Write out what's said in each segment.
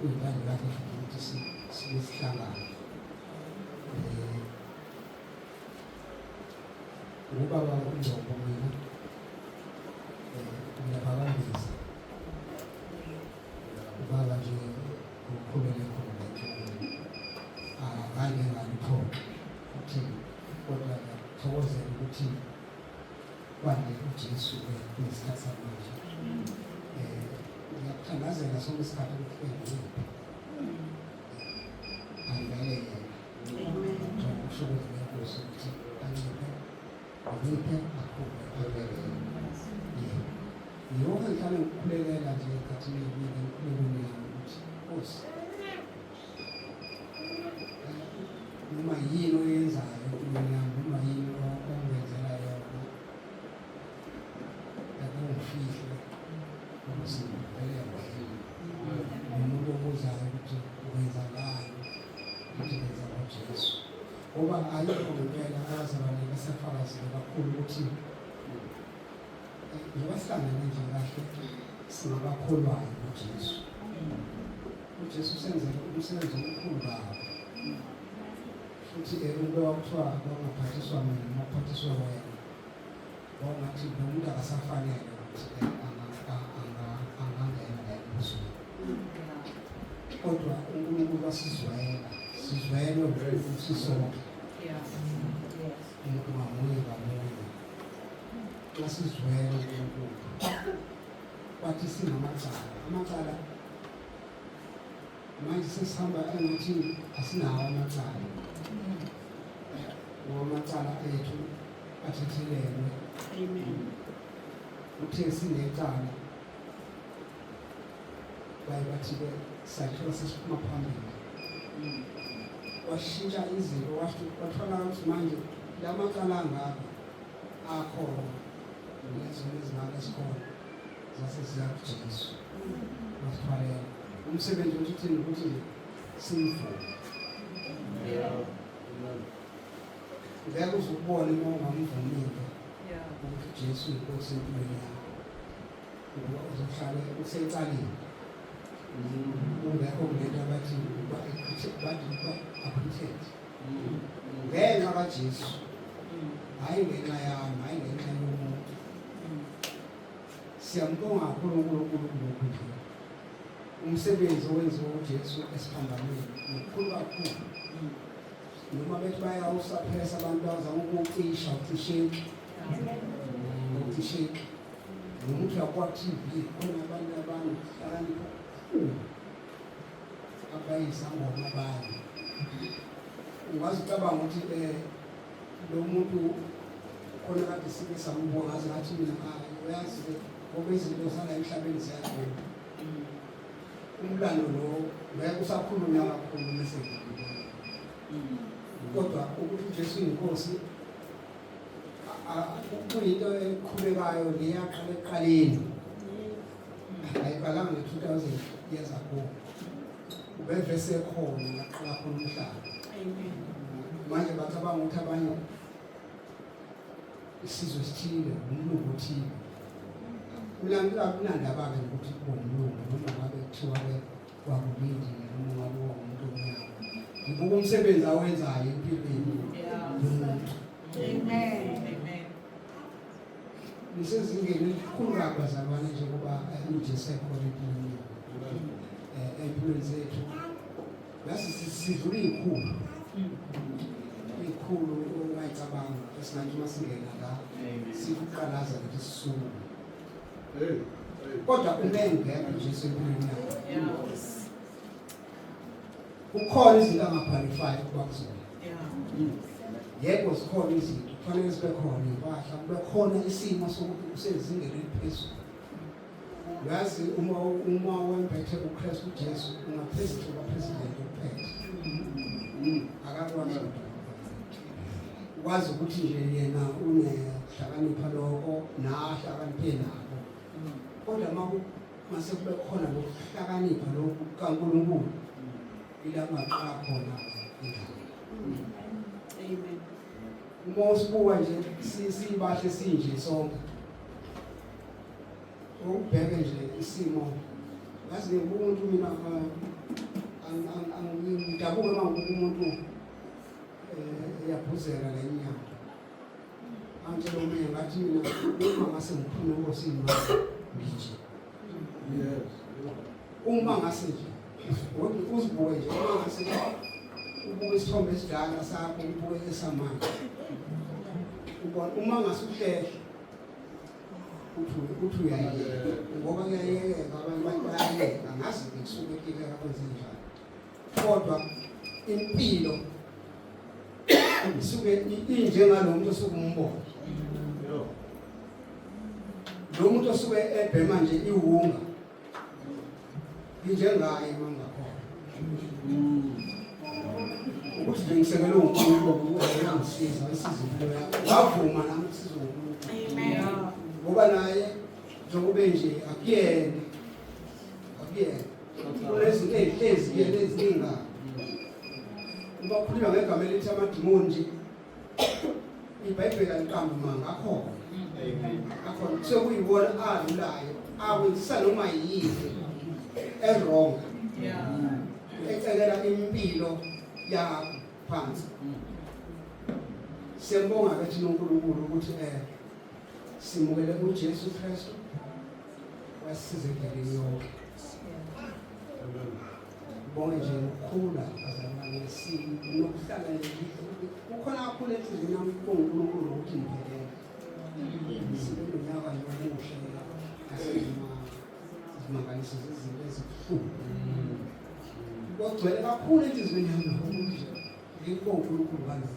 Uyibanga lakho futhi ukuthi sihlangane. Eh, ubaba uNgcobo mina ngiyaphakambisa eh, ubaba nje ukhulele khona akanye ah, ngaliphoqa ukuthi kodwa ngiyathokozela ukuthi Kwande uJesu ngesikhathi samanje. Eh, ngiyakuthandazela sonke isikhathi ukuthi uyancipha. Angibele yena. Amen. Kusho ukuthi ngiyakuso ukuthi anciphe. Anciphe akhule angibele yena. Yeah. Yonke ngihlale ngikukhulekela nje ekhathini eyiningi enkulekweni yami ukuthi Nkosi noma yini oyenzayo mina noma yini ongenzela yona akungifihle ukusivele wahile nomuntu obuzayo ukuthi wenzakani ukuthi ngenza ngojesu ngoba ayikho ngempela abazalwane basafakazile kakhulu ukuthi njengoba sihlangane nje kahle singabakholwayo ujesu uJesu usenzele umsebenzi omkhulu kabi futhi ekube wakuthiwa kwangaphathiswa mina noma kuphathiswa wena wawungathi lo muntu akasafanele ukuthi angangena la embusweni kodwa unkulunkulu wasizwayela sizwayelwe ukuthi sisonke umuntu ngamunye ngamunye xa sizwele unkulunkulu wathi sinamacala amacala manje sesihamba engathi asinawo amacala ngoba amacala ethu athethelelwe uthe sinecala baye bathi-ke sakhiwa sesiphuma phambili washintsha izinto wathola ukuthi manje la macala angaka akhona nezona ezingaka ezikhona zase ziyakujeziswa masithwalele umsebenzi wethu uthini ukuthi simvume ngeke uze ukubone uma ungamvumile ukuthi ujesu inkosi empilweni yakho ukuba uzohlale usecaleni ungekho ngento abathi uba aphuthethe ngenxa kaJesu hayi ngenxa yami hayi ngenxa yomuntu siyambonga kakhulu uNkulunkulu kulokhu nje umsebenzi owenziwa uJesu esiphambanweni mkhulu kakhulu noma bethi bayawusaphesa abantu bazama ukucisha ucisheki ucisheki nomuntu yakwa-tv khona abantu abantu bakanipha abayizangoma bayo ungaze ucabanga ukuthi um lo muntu khona kade sike samubona aze ngathi mina hayi uyazi ngoba izinto zala emhlabeni ziyagona umlando lo ngeke usakhulunywa kakhulu mese kodwa ukuthi ujesu inkosi kuyinto eqhubekayo leyaqala ekuqaleni ayiqalanga ngo-2000 years ago ubevese khona ngaqala khona umhlaba manje bacabanga ukuthi abanye isizwe sithile umlungu othile kunandaba-ke nokuthi kuwumlungu noma ngabe kuthiwa-ke wakulindile noma ngabe wawumuntu omnyama ngibuka umsebenzi awenzayo empilweni yomuntu lisezingeni elikhulu kabazalwane njengoba uJesu ekhona empilweni empilweni zethu yasi sidlula iy'khulu iy'khulu ungayicabanga esingathi uma singena la sikuqalaza ukuthi sisuke kodwa umengekho nje sempilweni yakho Kukhona izinto angapharifayo ukuba kuzona. Yebo zikhona izinto kufanele sibe khona impahla kube khona isimo sokuthi usezingeni eliphezulu. Uyazi uma uma wembethe uKristu Jesu ungaphezulu kwaphezulu uphethe. Akakwazi wazi ukuthi nje yena unehlakanipha lokho nahlakaniphe nako. Kodwa uma mase kube khona lokuhlakanipha lokhu kaNkulunkulu ila maqala khona indawo amen uma usibuka nje sibahle sinje sonke ubheke nje isimo ngazi umuntu mina angidabuka uma umuntu eh, eyaphuzela lenyama Angitshela omunye ngathi mina uma ngase ngiphume enkosini ngije. Yes. Uma ngase nje ngoba uzibuke nje uma ngase ubuke isithombe esidala sakho ubuke esamanje. Ubona uma ngase uhlehla uthi uthi uyayeka ngoba kuyayeka abantu bayayeka ngazi ngisuke kike akwenze njani. kodwa impilo isuke injengalomuntu osuke umbona lo muntu osuke ebhema nje iwunga injengaye mangakhona ukuthi nje ngisekelwe uNkulunkulu uyangisiza isiza impilo yakho wavuma nami ukusiza uNkulunkulu ngoba naye njengoba nje akuyena akuyena ubakhuluma ngegama elithi amadimoni nje ibhayibheli aliqambi manga akhona akhona kusuke kuyiwona alulayo awenzisa noma yini eronga ecekela impilo yakho phansi siyambonga ke thina uNkulunkulu ukuthi eh simukele uJesu Kristu Wasiza endabeni yonke. Bonke nje ukukhula azalwane sini nokuhlala kukhona kakhulu enhliziyweni yami kuNkulunkulu ukuthi ngibhekele. Sibe nonyaka yomuhle asizima sizimangalise zezinto ezibuhlungu. Kogcwele kakhulu enhliziyweni yami nokuhle. Yikho uNkulunkulu wazi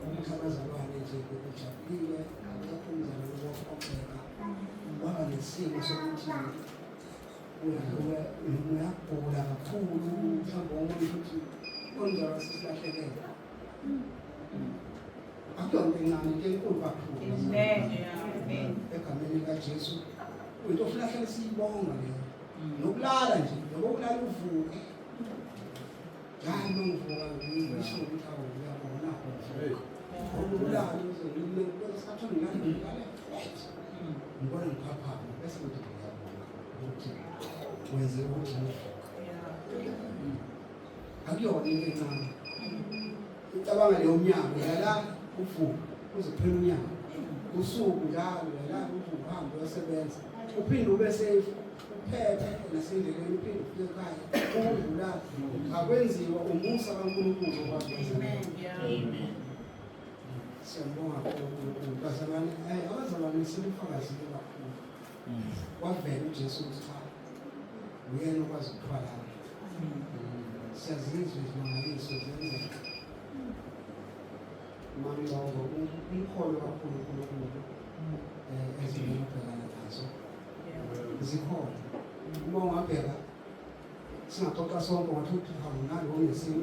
ukuthi abazalwane nje bebejabulile akekho umzalwane wokuphoxeka waba nesimo sokuthi uyagula kakhulu mhlawumbe omunye ukuthi onjalo sisilahlekele akuyonto encane into enkulu kakhulu egameni likajesu into ofuna hlale siyibonga leyo nokulala nje nokokulala uvuke akuyona into encane ucabanga leyo mnyango yala uvuka uzophela unyaka usuku njalo yala uvuka uhambe uyosebenza uphinde ube safe uphethe nasendleleni uphinde ufike ekhaya ukudlula akwenziwa umusa kaNkulunkulu okwazi Amen. Siyambonga uNkulunkulu bazalwane eh abazalwane simfakazi kakhulu. Wavela uJesu ukuthi cha uyena okwazi ukuthwala. Siyazizwa izimangaliso zenzeka. Mami wabo umkholo kakhulu uNkulunkulu eh ezimubhekana nazo. zikhona uma ungabheka singaxoxa sonke ngathi uphika mnandi onesimo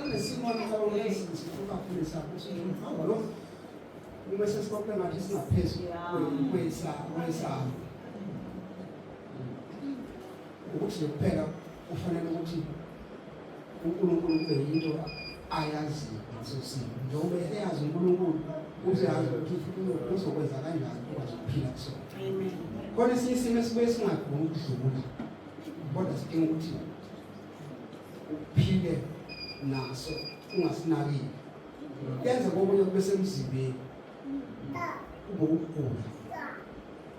unesimo ncaonesinsifukakhulisa kusiumhamba lo uma sesikoke ngathi singaphezu kwesabo ukuthi nje kuphela kufanele ukuthi uNkulunkulu kube yinto ayazi ngaso simo njengoba eyazi uNkulunkulu useyazi ukuthi uNkulunkulu uzokwenza kanjani ukwazi ukuphila kusona khona esinye isimo esibuye singagumi ukudlula kodwa sidinga ukuthi uphile naso ungasinakile yenze kokunye kube semzimbeni ubokugula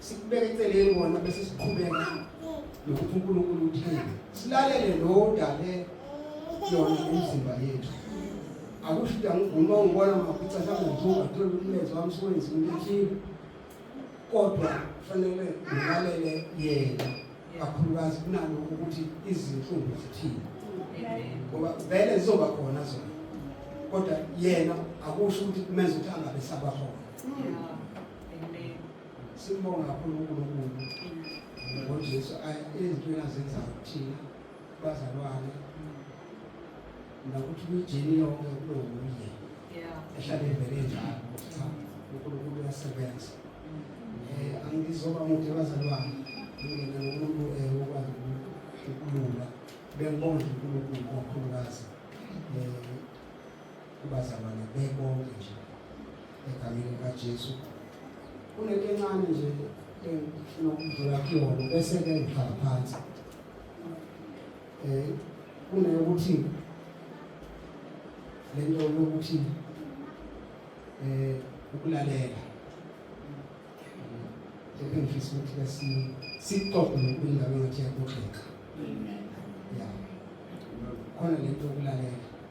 sikubeka eceleni wona bese siqhubeka nokuthi uNkulunkulu uthini silalele lo dale yona umzimba yethu akusho ukuthi angivuma ungibona mafica mhlawumbe ngithuka ngithole umlenze wami siwenzi into ethile kodwa kufanele ngilalele yena kakhulukazi kunalokho ukuthi izinhlungu zithini ngoba vele zizoba khona zona kodwa yena akusho ukuthi kumenza ukuthi angabe sabakhona simbonga kakhulu uNkulunkulu ngoJesu ezintweni azenzayo kuthina bazalwane nokuthi kuyijeni yonke kulo nguye ehlale evele njalo cha uNkulunkulu uyasebenza um angizoba mude bazalwane ngingena nomuntu um wokwazi ukulula bengibonga uNkulunkulu kakhulukazi um kubazalwane bebonke nje egameni likaJesu kunento encane nje engifuna ukudlula kuyona bese-ke ngihlala phansi um kuneyokuthi le nto yokuthi um ukulalela engifisa ukuthi sixoxe nokulindaba ngathi yakuxoxa ya khona le nto yokulalela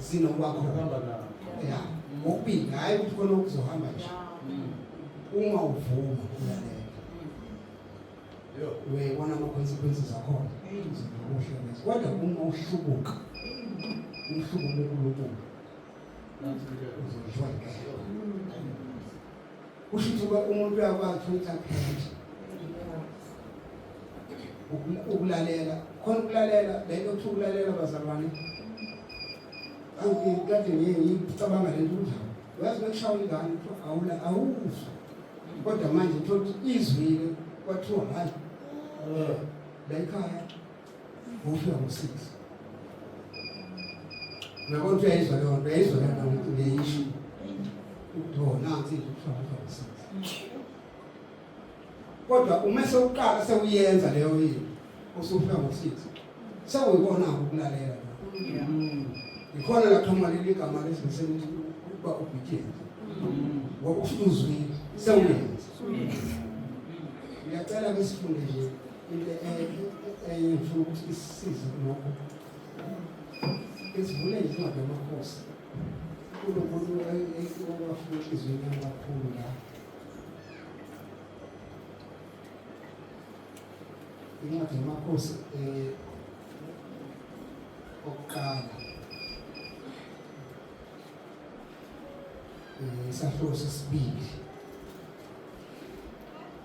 Zino kwakho hamba nawo. Ya, ngokubili hayi ukuthi khona ukuzohamba nje. Uma uvuma uyalela. Yo, uyayibona ama consequences akhona. Eyinzima ukuhlala. Kodwa uma uhlubuka. Umhlubuko uNkulunkulu. Uzojwayela. kusho ukuthi ube umuntu uyakwazi ukuthi interpret ukulalela khona ukulalela le nto kuthiwa ukulalela bazalwane kade ngiye ngicabanga le nto kunjalo uyazi bekushawa ingane kuthiwa awula awuzwa kodwa manje uthole ukuthi izwile kwathiwa hhayi la ikhaya Ngofika ngo-six. Uyabona ukuthi uyayizwa leyo nto, uyayizwa leyo nto ukuthi uyayisho. Kuthiwa nansi into kuthiwa ngofika ngo-six. Kodwa uma sewuqala sewuyenza leyo into, usufika ngo-six. Sewuyibona-ke ukulalela lokho. Yikhona la qhamuka leli gama lesibisela ukuthi ukuba obedient. Ngoba ufuna uzwile, sewuyenza. Ngiyacela ke sifunde nje enye ngifuna ukuthi isisize kulokho isivule incwadi yamakhosi kulo muntu owafuna inhliziyweni yami kakhulu la incwadi yamakhosi um okuqala um isahluko sesibili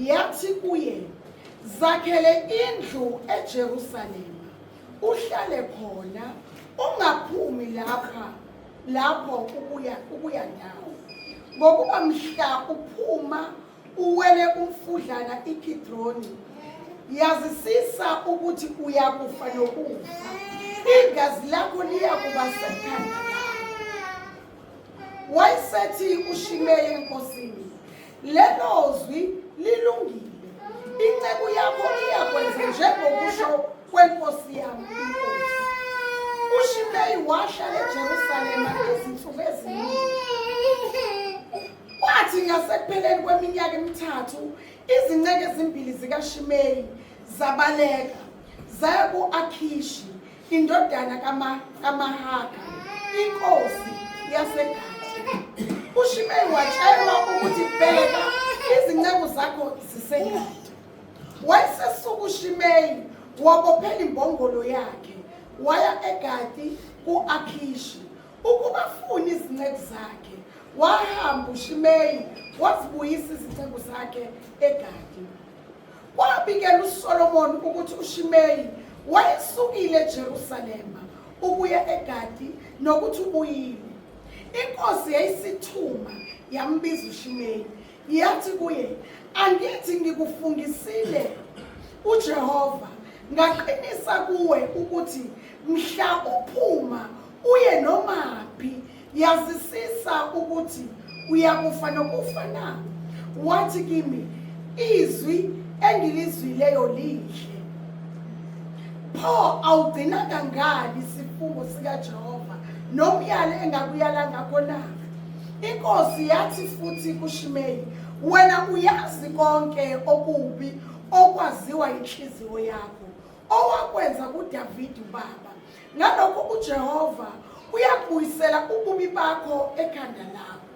yathi kuye zakhele indlu eJerusalema uhlale khona ungaphumi lapha lapho ukuya ukuya ndawo ngokuba mhla uphuma uwele umfudlana iKidroni yazisisa ukuthi uyakufa nokufa igazi lakho liyakuba sekhanda wayesethi uShimeyi enkosini lelo zwi lilungile inceku yakho iyakwenza njengokusho kwenkosi yami inkosi ushimeyi wahlala ejerusalema izinsuku eziningi kwathi ngasekupheleni kweminyaka emithathu izinceke ezimbili zikashimeyi zabaleka zaya ku-akhishi indodana kaMahaka, inkosi yaseGadi. UShimei watshelwa ukuthi bheka izinceku zakho ziseGadi. Wayesesuka uShimei wabophela imbongolo yakhe waya eGadi ku-Akhishi ukuba afune izinceku zakhe. Wahamba uShimei wazibuyisa izinceku zakhe eGadi. Kwabikela uSolomoni ukuthi uShimeyi wayesukile eJerusalema ukuya eGadi nokuthi ubuyile. Inkosi yayisithuma yambiza uShimeyi yathi kuye, "Angithi ngikufungisile uJehova ngaqinisa kuwe ukuthi mhla uphuma uye nomaphi Yazisisa ukuthi uyakufa nokufa na? Wathi kimi, izwi engilizwileyo lihle. Pho awugcinanga ngani isifungo sikaJehova nomyalo engakuyala ngakho na? Inkosi yathi futhi kuShimeyi, wena uyazi konke okubi okwaziwa inhliziyo yakho owakwenza kuDavide ubaba Ngalokho uJehova uyabuyisela ububi bakho ekhanda lakho.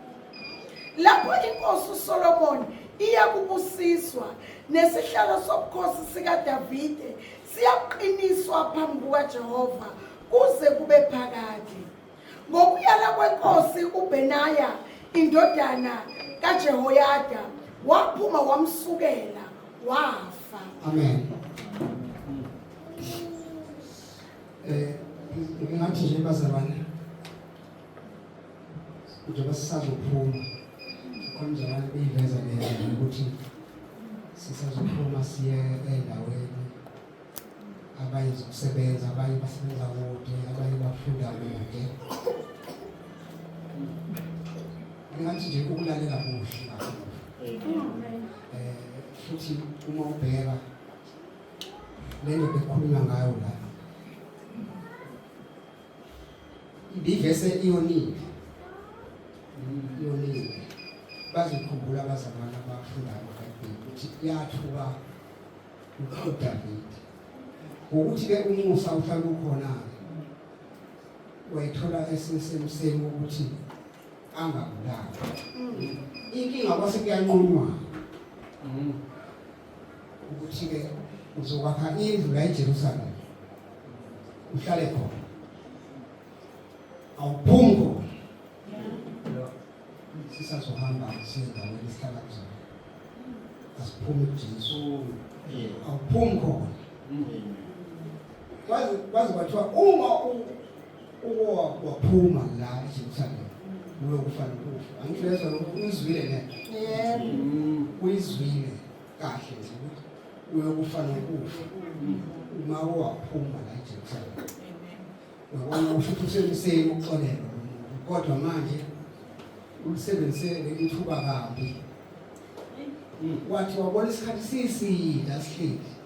Lapho inkosi uSolomon iyakubusiswa nesihlalo sobukhosi sikaDavide siyaqiniswa phambi kukaJehova kuze kube phakade. Ngokuyala kwenkosi uBenaya indodana kaJehoyada waphuma wamsukela wafa. Amen. Eh ngingathi nje bazalwane njengoba sisazophuma khona njalo kuyiveza ngendlela ukuthi sisazophuma siye endaweni abanye zokusebenza abanye basebenza kude abanye bafunda kude ngathi nje ukulalela kuhle eh futhi uma ubheka Lento bekukhuluma ngayo la. Ibivese iyonile. Iyonile. Bazikhumbula abazalwana abafundayo eBhayibheli ukuthi yathuka uDavide. Ukuthi ke umusa uhlala ukhona wayithola esesemseni ukuthi angabulawa. Mm. Inkinga kwase kuyanqunwa. Mm. ukuthi-ke uzokwakha indlu la eJerusalema uhlale khona awuphumi khona sisazohamba siyendaweni esihlala kuzona asiphumi kujesu awuphumi khona kwaze kwathiwa uma ukuwa waphuma la eJerusalema uyokufa nokufa angisho yezwa lokhu uyizwile ne yebo uyizwile kahle nje ukuthi uyokufa nokufa uma waphuma la eJerusalema uyabona usho ukuthi usemseni ukuxolelwa kodwa manje ulisebenzise leli thuba kabi wathi wabona isikhathi siside asihleli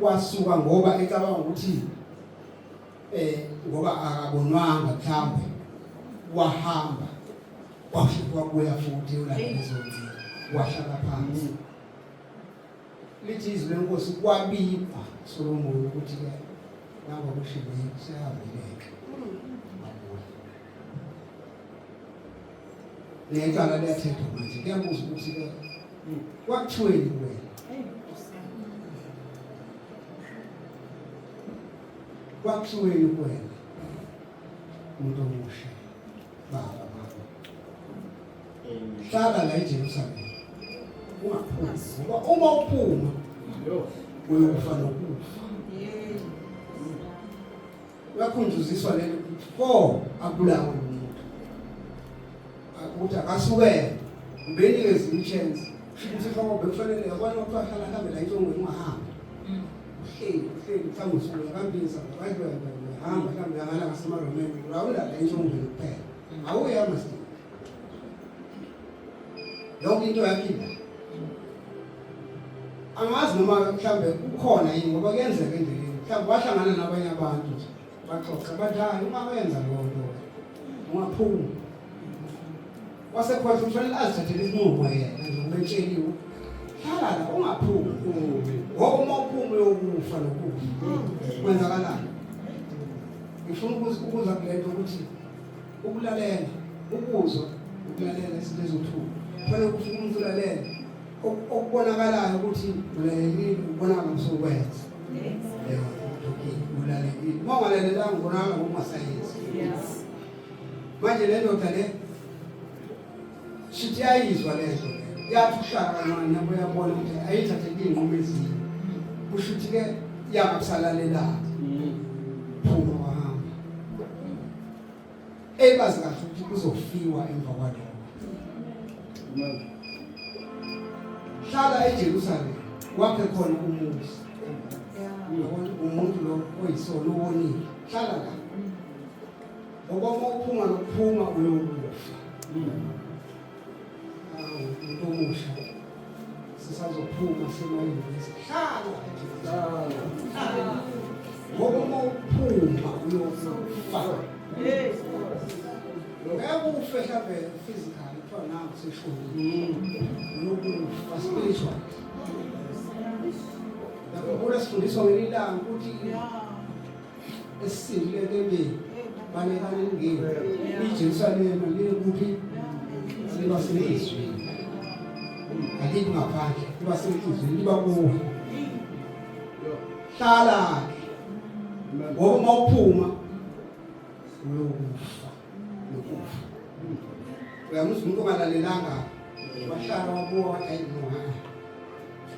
kwasuka ngoba ecabanga ukuthi eh ngoba akabonwanga mhlambe wahamba wafika kuya futhi ulalezonzi wahlala phansi lithi izwi lenkosi kwabikwa Solomon ukuthi ke nabo kushibile siyabeleka necala liyathethwa manje kuyabuza ukuthi ke kwakuthiweni wena kwakuthiweni wena umuntu omusha baba baba hlala la eJerusalem ungaphuma ngoba uma uphuma uyokufa nokufa uyakhunjuziswa le nto pho abulawe umuntu ukuthi akasukele ubenikwe ezinye chance ukuthi hlobo bekufanele yabona ukuthi ahlala ahambe la intongweni ungahambi mm. uhleli uhleli mhlawumbe usuku yakambisa abantu bayahamba mhlawumbe yakala ngasemaromeni awulala intongweni kuphela mm. awuyama sini yonke into yaphila angazi noma mhlawumbe kukhona yini ngoba kuyenzeka endleleni mhlawumbe wahlangana nabanye abantu nje baxoxa bathi hayi uma wenza loo nto ungaphumi wasekhona kufanele azithathele isinqumo yena njengometsheliwe hlala la ungaphumi ngoba uma uphuma uyokufa nokufa kwenzakalani ngifuna ukuza kule nto ukuthi ukulalela ukuzwa ukulalela izinto ezothuka kufanele ukuthi umuntu ulalela okubonakalayo ukuthi ulalelile ubonakala usokwenza ulalelile uma ungalalelanga ubonakala ngokungasayenzi manje le ndoda le shithi yayizwa le nto yathi uhlala kancane nabo yabona ukuthi ayithathe iy'nqumo ezinye kusho ukuthi-ke yaba kusalalelanga ebazi kahle ukuthi kuzofiwa emva kwalokho hlala eJerusalem wakhe khona umuzi uyabona umuntu lo oyisona uwonile hlala la ngoba uma uphuma nokuphuma uyokufa sisazophuma semayini sihlala ngoba uma uphuma uyofa lokho ukufehla vele physical kuthiwa nawo seshoni lokufa spiritual lapho kule sifundiswa ngelilanga ukuthi esisindile entembeni balekani ngini iJerusalema likuphi liba senhlizweni alithi ngaphandle liba senhlizweni liba kuwe hlala-ke ngoba uma uphuma uyokufa nokufa uyamuzwa umuntu ongalalelanga wahlala wabuka wathi ayi no ha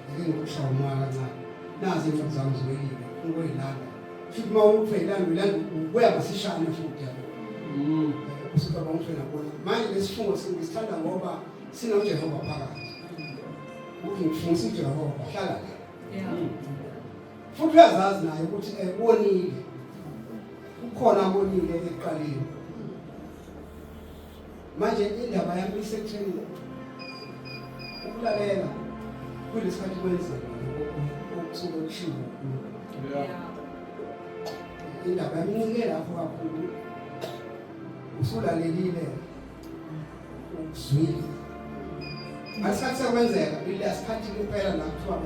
ake ngikushaya umoya kancane nazi incwadi zami zoyile ngoyilanda futhi uma umuntu uyilanda uyilanda ubuya masishane futhi yabo mm. usuka bonke nakona manje lesifungo sithanda ngoba sinoJehova phakathi ukuthi ngifungisa uJehova hlala la futhi uyazazi naye ukuthi ebonile kukhona abonile ekuqaleni manje indaba yami isekutheni ukulalela kulesikhathi kwenzeka okusuke kushiwo indaba yami incike lapho kakhulu usulalelile ukuzwile asikhathi sekwenzeka ile asikhathi kuphela la kuthiwa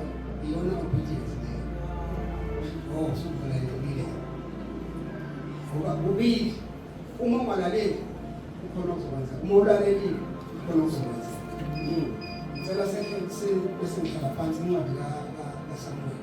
iyona obedience leyo oh sukuvula yobile ngoba kubili uma ungalaleli ukhona okuzokwenza uma ulalelile ukhona okuzokwenza hmm. ngicela sekhe bese ngihlala phansi incwadi kasamuel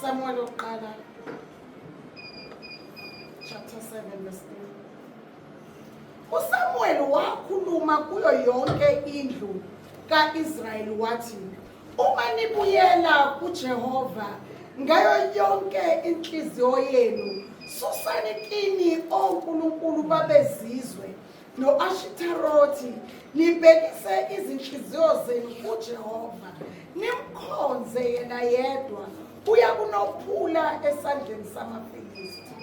Samuel Okqala chapter 7 verse 3 uSamuel wakhuluma kuyo yonke indlu kaIsrayeli wathi uma nibuyela kuJehova ngayo yonke inhliziyo yenu susani kini onkulunkulu babezizwe no-ashitarothi nibhekise izinhliziyo zenu kujehova nimkhonze yena yedwa uya kunophula esandleni samafilisti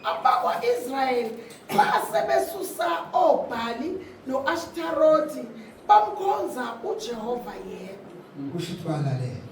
abakwa-israyeli xa sebesusa oobhali no-ashitarothi bamkhonza ujehova yedwa kusho ukuthi balalela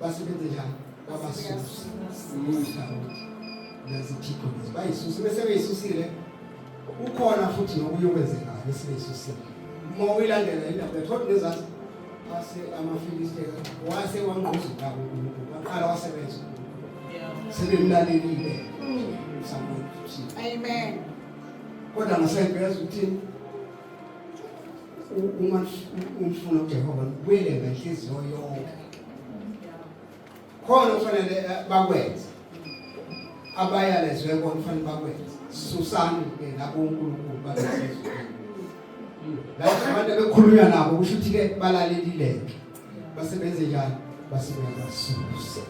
basebenze njani babasusa umisa ukuthi nezithikho lezi bayisusa bese beyisusile ukhona futhi nokunye okwenzekayo bese beyisusile uma uyilandela indaba yethoda nezazi wase amafilisteka wase wangquzula uNkulunkulu waqala wasebenza sebemlalelile amen kodwa ngasempela ukuthi uma umfuna uJehova ngibuyele ngenhliziyo yonke khona kufanele eh, bakwenze abayalezwe kona kufanele bakwenze susani ke nabo uNkulunkulu balezwe lapho abantu bekhulunywa nabo kusho ukuthi ke balalelileke base benze njani base beyabasusa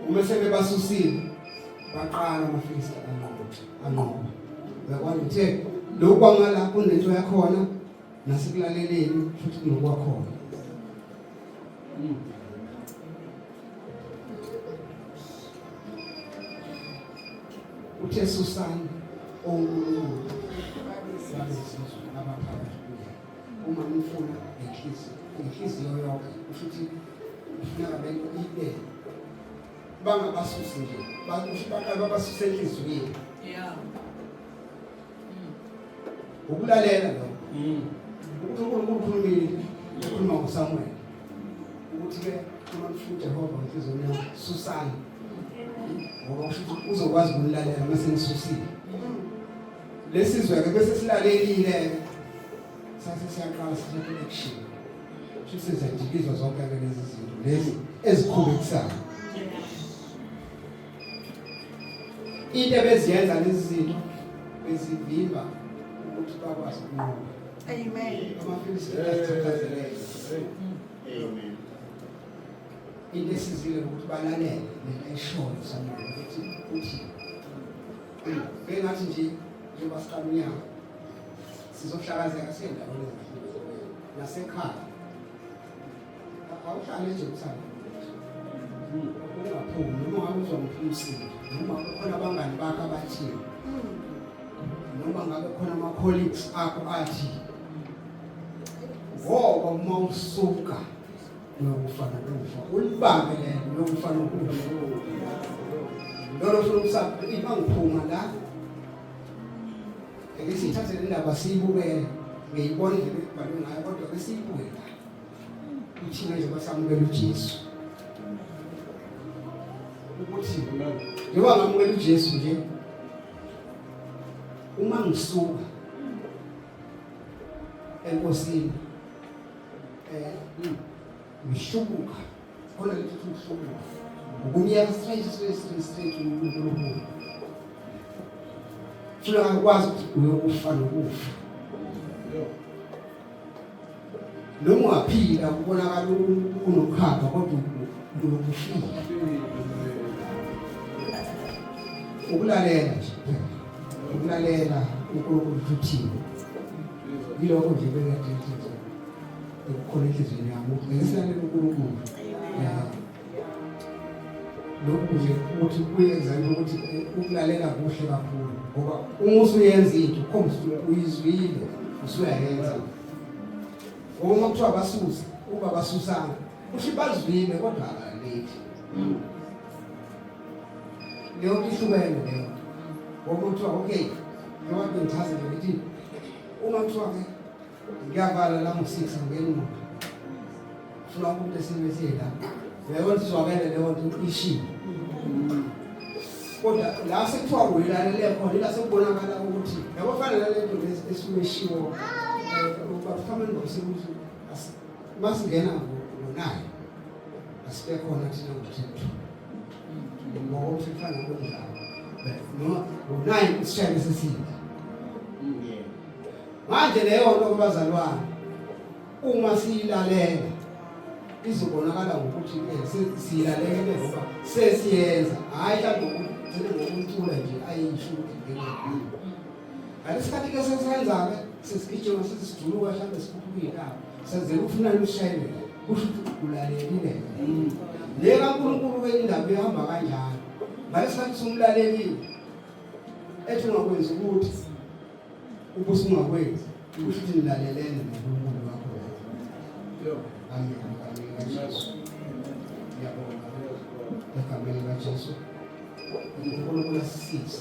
uma sebebasusile baqala amafilisti anqoba anqoba uyakwazi uthe lokhu kwangala kunento yakhona nasekulaleleni futhi kunokwakhona uthe susani onkulunkulu babezizwe abaphakathi uma ngifuna ngenhliziyo ngenhliziyo yonke kusho ukuthi ufuna abantu ibe bangabasusi nje bakusho baqala babasuse enhliziyweni yeah mm. ukulalela lo mm. ukuthi uNkulunkulu ukhulumile ukhuluma ngoSamuel ukuthi ke uma ngifuna uJehova ngenhliziyo yami susani ngoba usho ukuthi uzokwazi ukulalela mase ngisusile lesizwe-ke bese silalelile-ke sase siyaqala sithatha i-action sho sizajikizwa zonke-ke lezi zinto lezi ezikhubekisayo into ebeziyenza lezi zinto bezivimba ukuthi bakwazi ukunqoba amen amafilisita asithathazelele amen into esizile ukuthi balalele nento eshoyo samuel ukuthi uthini Bengathi nje njengoba siqala unyaka sizohlakazeka siyendaweni ezahlukene nasekhaya. Awuhlale nje uthanda. Ungaphumi noma ngabe uzomphuma usizi noma kukhona abangani bakho abathile. Noma ngabe khona ama colleagues akho athi ngoba uma usuka Uyokufa nokufa. Ulibambe lelo uyokufa nokufa. Lolo funa ukusapha iba ngiphuma la. Ake sithathe le ndaba siyibukele. Ngiyibona nje bebhalwe ngayo kodwa ke siyibuke la. Uthina nje basamukela uJesu. Ukuthi njengoba ngamukela uJesu nje uma ngisuka enkosini um ngihlubuka khona ngithuthi ngihlubuka ukumyeka straight straight straight straight umuntu olukhulu funa ngakwazi ukuthi uyokufa nokufa noma ungaphila kubonakala unokhamba kodwa uyokufika ukulalela nje ukulalela unkulunkulu futhile yilokho nje bengadethi nje ukukhona enhliziyweni yami ukuthi ngayisale uNkulunkulu lokhu nje ukuthi kuyenza ukuthi eh, ukulalela kuhle kakhulu ngoba uma usuyenza into ukhombisa ukuthi uyizwile usuyayenza uma kuthiwa basuse uba basusanga usho bazwile kodwa akalethi Leyo ihlukene leyo. Ngokuthi okay, njengoba ngichaze ukuthi uma kuthiwa ke ngiyavala la ngo-six ngingena imoto funa umuntu esimeni siyela leyo nto izwakele leyo nto ishile kodwa la sekuthiwa uyilalele khona ila sekubonakala ukuthi yabo fanele le nto esuke ishiwo eh, ubafameni ngokusekuthi Masingena ngonayo asibe khona thina ngothetho. Ngoba usifana ngokunjalo. No, ngonayo isishayelo sesile. Manje leyo nto kubazalwane uma siyilalela izobonakala ngokuthi eh, siyilalele ngoba sesiyenza hayi mhlawumbe ngokucula nje ayisho ukuthi ngalesikhathi ke sesenzake sesigijima sithi sijuluka hlambe sikhuphuka iy'ndawo senzela ukufuna lushelela kusho ukuthi ulalelile le kankulunkulu wendawo ihamba kanjalo ngalesikhathi sumlalelile ethi ungakwenzi ukuthi ubusungakwenzi kusho ukuthi nilalelene nonkulunkulu wakho amen amen kajesu yabona egameni kajesu unkulunkulu asisize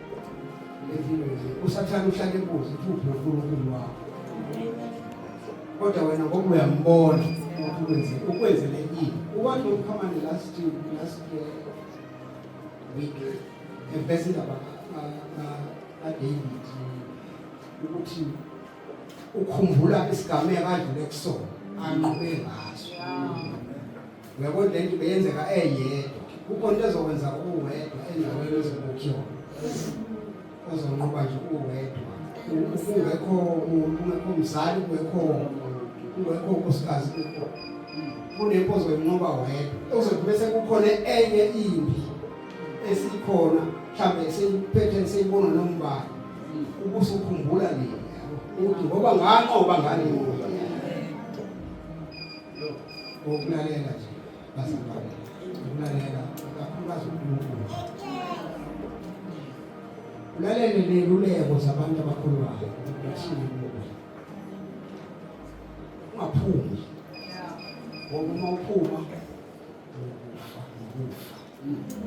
usathane uhlale kuze kuphi uNkulunkulu wakho kodwa wena ngoba uyambona ukuthi ukwenze ukwenzele yini ukwakhe ukhamane last last year week ebesida ba David ukuthi ukhumbula isigameko adlule kusona anqobe ngaso Uyabona le nto beyenzeka eyedwa. Kukhona into ezokwenza uwedwa endaweni ezokukhiwa. Ozonqoba nje uwedwa. Ungekho umuntu, ungekho mzali, ungekho ungekho unkosikazi kukho. Kunempo ozoyinqoba wedwa. Uzothi bese kukhona enye impi esikhona mhlambe seyiphethe seyibona nombala. Ubusukhumbula nini? Uthi ngoba nganqoba ngani? ukulalela nje bazalwane ukulalela kakhulukazi unkulunkulu ulalele ney'luleko zabantu abakhulukayo ukungaphumi ngoba uma uphuma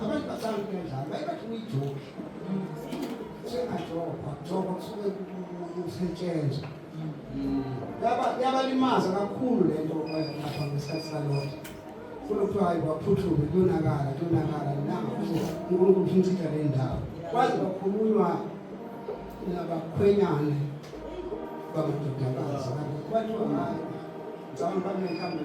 Abantu bahlala kanjani? Bayibathi uyijoki. Sengajokwa, jokwa kusuke kusetshenzwa. Yabalimaza kakhulu le nto lapha ngesikhathi salona. Funa kuthiwa hayi kwaphuthuke kuyonakala kuyonakala nanga uNkulunkulu ufuna uchitha le ndawo. Kwaze kwakhulunywa nabakhwenyane bamadodakazi. Kwathiwa hayi ngicabanga babe mhlawumbe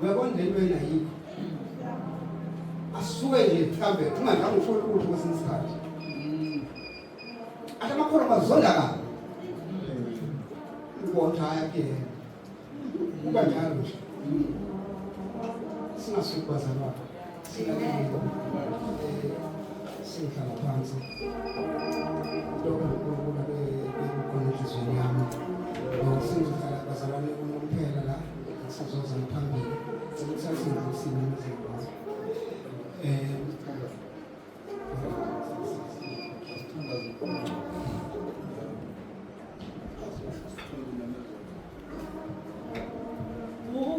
Uyabona le nto yena yikho. Asuke nje mhlambe ungadlanga usholo ukuthi kwesinye isikhathi. Ake amakhono bazonda ka. Ubona haya ke. Kuba njalo nje. Singasukubaza lapha. sihlala phansi lokho ngikubona bekukhona enhliziyweni yami ngokusizohlala bazalwane kuno kuphela la sizoza ngaphambili sekusasinza isimo nezikwazi um